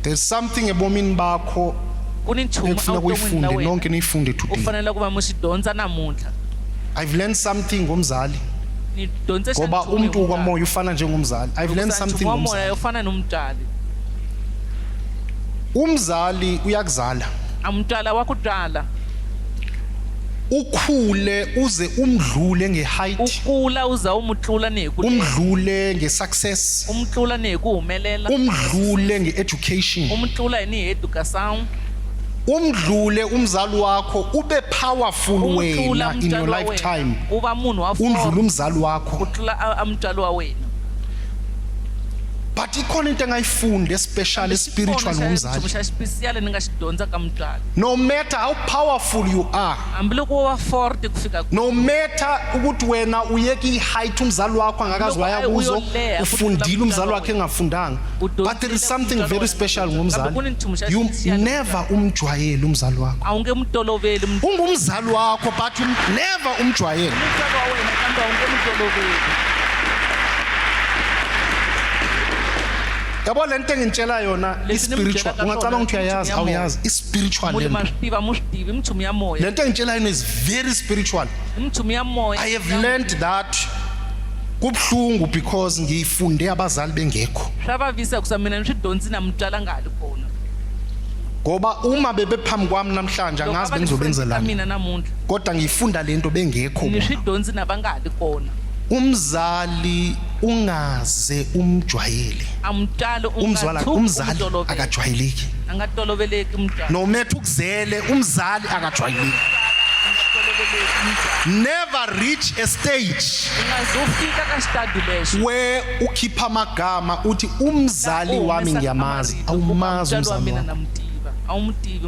there's something ebomini bakho ekufuna kuyifunde nonke niyifunde today ufanele kuba musidonsa namuhla i've learned something ngomzali ngoba umuntu kwamoya ufana njengomzali i've learned something ngomzali ufana nomdali umzali uyakuzala amdala wakudala ukhule uze umdlule nge-height ukula uza umutlula neku umdlule nge-success umtlula neku umelela umdlule nge-education umtlula ni education umdlule umzali wakho ube powerful wena in your lifetime uba munhu wa umdlule umzali wakho utlula amtshalo wa wena but ikhona into engayifunda especially spiritual ngomzali No matter how powerful you are, no matter ukuthi wena uyeka i-height umzali wakho angakazi waya kuzo ufundile umzali wakhe engafundanga but there is something very special ngomzali you never umjwayele umzali wakho ungumzali wakho but you never umjwayele yabo le nto engintshela yona i-spiritual ungacabanga ukuthi uyayazi awuyazi i-spiritual le nto engitshela yona is very spiritual i have learned that kubuhlungu because ngiyifunde abazali bengekho hlavavisa kusa mina nishidonsi namutala ngali kona ngoba uma bebephambi kwami namhlanje angazi bengizobenzelani mina namuntu kodwa ngiyifunda lento bengekho nishidonsi nabangali kona umzali ungaze umjwayele amdala umzwala umzali akajwayeleki angatoloveleki umdala nometha ukuzele umzali akajwayeleki never reach a stage ungazofika kastadulesho where ukhipha amagama uthi umzali wami ngiyamazi awumazi umzali wami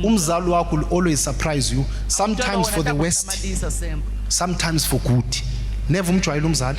umzali wakho will always surprise you sometimes for the west sometimes for good never umjwayele umzali